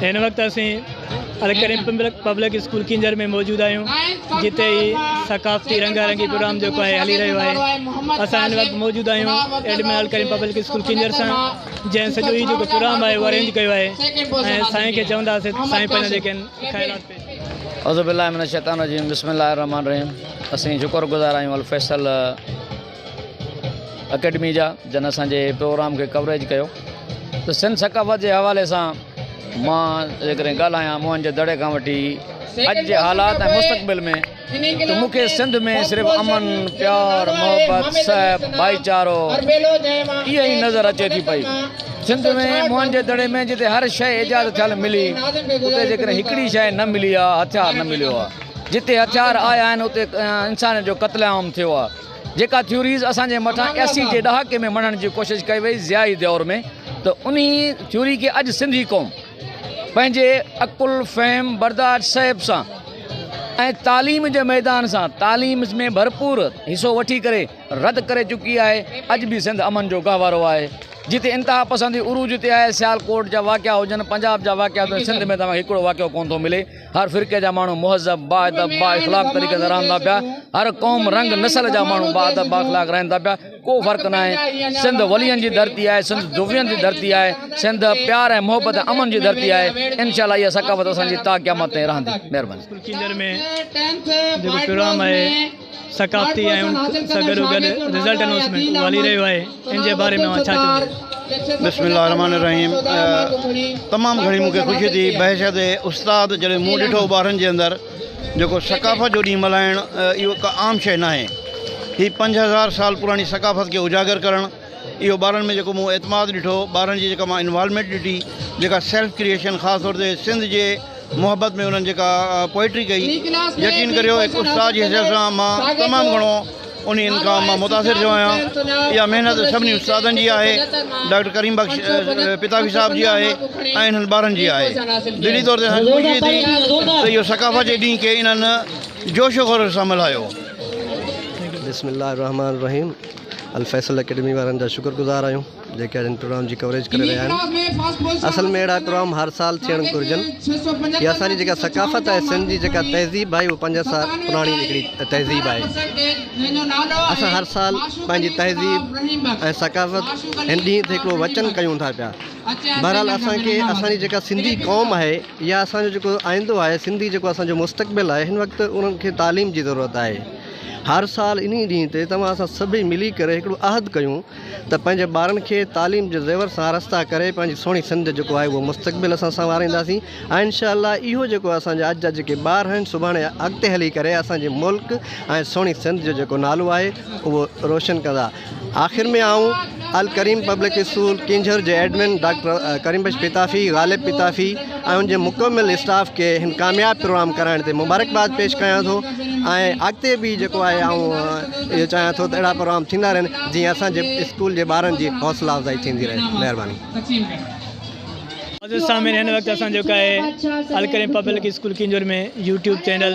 هن وقت اسين الڪريم پبلڪ اسڪول ڪينجهر ۾ موجود آهيون جتي هي ثقافتي رنگا رنگي پروگرام جيڪو آهي هلي رهيو آهي اسان هن وقت موجود آهيون admin Alkarim public school Keenjhar سان جنهن سڄو هي جيڪو پروگرام آهي اهو ارينج ڪيو آهي ۽ سائين کي چونداسي سائين پنهنجا جيڪي خيالات پيش اعوذ بالله من الشيطان الرجيم بسم الله الرحمن الرحيم اسين شڪر گذار آهيون الفيصل اڪيڊمي جا جن اسان جي پروگرام کي ڪوريج ڪيو ته سنڌ ثقافت جي حوالي سان مان جيڪڏهن ڳالهايان موهن جي دڙي کان وٺي اڄ جي حالات ۽ مستقبل ۾ ته مون کي سنڌ ۾ صرف امن پيار محبت سهپ ڀائي چارو اها ئي نظر اچي ٿي پئي سنڌ ۾ موهن جي دڙي ۾ جتي هر شيء ايجاد ٿيل ملي اتي جيڪڏهن هڪڙي شيء نه ملي آهي هٿيار نه مليو آهي جتي هٿيار آيا آهن اتي انسانيت جو قتل عام ٿيو آهي جيڪا ٿيوريز اسان جي مٿان اسي جي ڏهاڪي ۾ مڙهڻ جي ڪوشش ڪئي وئي ضيائي دؤر ۾ ته انهي ٿيوري کي اڄ سنڌي قوم پنهنجي عقل فهم برداشت صيب سان ۽ تعليم جي ميدان سان تعليم ۾ ڀرپور حصو وٺي ڪري رد ڪري چڪي آهي اڄ به سنڌ امن جو گهوارو آهي جتي انتها پسندي عروج تي آهي سيالڪوٽ جا واقعا هجن پنجاب جا واقعا هجن سنڌ ۾ توهان کي هڪڙو واقعو ڪونه ٿو ملي هر فرقي جا ماڻهو مهذب، باادب، بااخلاق طريقي سان رهن ٿا پيا. هر قوم، رنگ، نسل جا ماڻهو باادب، بااخلاق رهن ٿا پيا. ڪو فرق ناهي. سنڌ ولين جي ڌرتي آهي، سنڌ جويين جي ڌرتي آهي، سنڌ پيار ۽ محبت ۽ امن جي ڌرتي آهي. انشاء الله اها ثقافت اسان جي تا قيامت تائين رهندي. مهرباني. اسڪول ڪينجهر ۾ جيڪو پروگرام آهي. ثقافتي ۽ ان سان گڏو گڏ رزلٽ اناؤنسمينٽ والي رهيو آهي ان جي باري ۾ اوهان ڇا چوندو. بسم الله الرحمٰن الرحيم تمام گهڻي مون کي خوشي ٿي بحيثيت استاد جڏهن مون ڏٺو ٻارن جي اندر جيڪو ثقافت جو ڏينهن ملهائڻ اهو ڪا عام شيء ناهي هي پنج هزار سال پراڻي ثقافت کي اجاگر ڪرڻ اهو ٻارن ۾ جيڪو مون اعتماد ڏٺو، ٻارن جي جيڪا مان انوالومينٽ ڏٺي، جيڪا سيلف ڪريئيشن خاص طور تي سنڌ جي محبت ۾ انهن جيڪا پوئٽري ڪئي، يقين ڪريو هڪ استاد جي حيثيت سان مان تمام گهڻو انهن کان مان متاثر ٿيو آهيان. اها محنت سڀني استادن جي آهي، ڊاڪٽر ڪريم بخش پتافي صاحب جي آهي ۽ انهن ٻارن جي آهي. دلي طور تي اسان کي خوشي ٿي ته اهو ثقافت جي ڏينهن کي انهن جوش و خروش سان ملهايو. بسم الله الرحمن الرحيم. الفيصل اڪيڊمي وارن جا شڪر گذار آهيون جيڪي اڄ ان پروگرام جي ڪوريج ڪري رهيا آهن اصل ۾ اهڙا پروگرام هر سال ٿيڻ گهرجن هي اسان جي جيڪا ثقافت آهي سنڌ جي جيڪا تهذيب آهي اها پنج سال پراڻي هڪڙي تهذيب آهي اسان هر سال پنهنجي تهذيب ۽ ثقافت هن ڏينهن تي هڪڙو وچن ڪيون ٿا پيا بهرحال اسانکي اسانجي جيڪا سنڌي قوم آهي يا اسانجو جيڪو آئندو آهي سنڌي جيڪو اسانجو مستقبل آهي هن وقت انهن کي تعليم جي ضرورت آهي هر سال انهي ڏينهن تي توهان اسان سڀئي ملي ڪري هڪڙو عهد ڪيون ته پنهنجي ٻارن کي تعليم جي زيور سان آراسته ڪري پنهنجي سهڻي سنڌ جيڪو آهي اهو مستقبل اسان سنوارينداسين ۽ انشاء الله اهو جيڪو اسان جا اڄ جا جيڪي ٻار آهن سڀاڻي اڳتي هلي ڪري اسان جي ملڪ ۽ سهڻي سنڌ جو جيڪو نالو آهي اهو روشن ڪندا آخر ۾ آئون الڪريم پبلڪ اسڪول ڪينجهر جي ايڊمن ڊاڪٽر ڪريم بخش پتافي، غالب پتافي ۽ ان جي مڪمل اسٽاف کي هن ڪامياب پروگرام ڪرائڻ تي مبارڪباد پيش ڪيان ٿو ۽ اڳتي به جيڪو آهي آئون اهو چاهيان ٿو ته اهڙا پروگرام ٿيندا رهن جيئن اسان جي اسڪول جي ٻارن جي حوصلا افزائي ٿيندي رهي. مهرباني. معزز سامعين هن وقت اسان جيڪو آهي Alkarim public school Keenjhar ۾ YouTube channel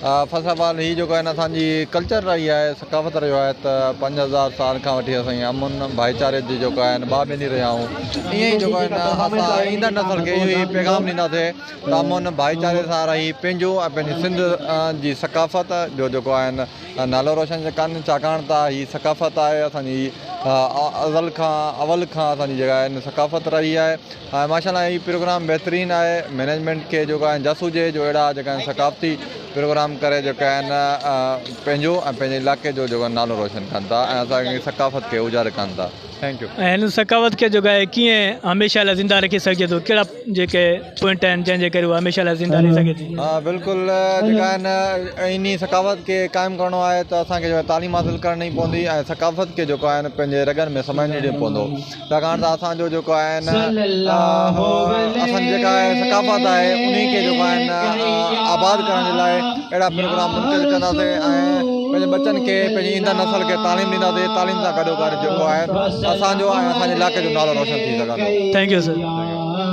first of all هي جيڪو آهي اسان جي ڪلچر رهي آهي ثقافت رهيو آهي ته پنج هزار سال کان وٺي اسان جي امن ڀائيچاري جي جيڪو آهي ٻا ٻني رهيا آهيون ائين ئي جيڪو آهي اسان ايندڙ نسل کي اهو ئي پيغام ڏينداسي ته امن ڀائيچاري سان رهي پنهنجو ۽ پنهنجي سنڌ جي ثقافت جو جيڪو آهي نالو روشن ڪن ڇاڪاڻ ته هي ثقافت آهي اسان جي ازل کان اول کان اسان جي جيڪا آهي ثقافت رهي آهي ماشاء الله هي پروگرام بهترين آهي مينيجمينٽ کي جيڪو آهي جس هجي جو اهڙا جيڪا آهن ثقافتي پروگرام ڪري جيڪا آهن پنهنجو ۽ پنهنجي علائقي جو جيڪو نالو روشن ڪن ٿا ۽ اسان جي ثقافت کي اجاگر ڪن ٿا ٿينڪ يو ۽ هن ثقافت کي جيڪو آهي ڪيئن هميشه لاء زنده رکي سگهجي ٿو ڪهڙا جيڪي پوائنٽ آهن جنهن جي ڪري هو هميشه لاء زنده رهي سگهي ٿي ها بلڪل جيڪا آهن انهي ثقافت کي قائم ڪرڻو آهي ته اسان کي تعليم حاصل ڪرڻي پوندي ۽ ثقافت کي جيڪو آهن پنهنجي رڳن ۾ سمائجڻي پوندو ڇاڪاڻ ته اسان جو جيڪو آهي نه اسان جي جيڪا آهي ثقافت آهي انهي کي جيڪو آهي نه آباد ڪرڻ جي لاء اهڙا پروگرام منعقد ڪنداسين ۽ پنهنجي ٻچن کي پنهنجي ايندڙ نسل کي تعليم ڏينداسين تعليم سان گڏو گڏ جيڪو آهي اسان جو ۽ اسان جي علائقي جو نالو روشن ٿي سگهندو ٿينڪ يو سر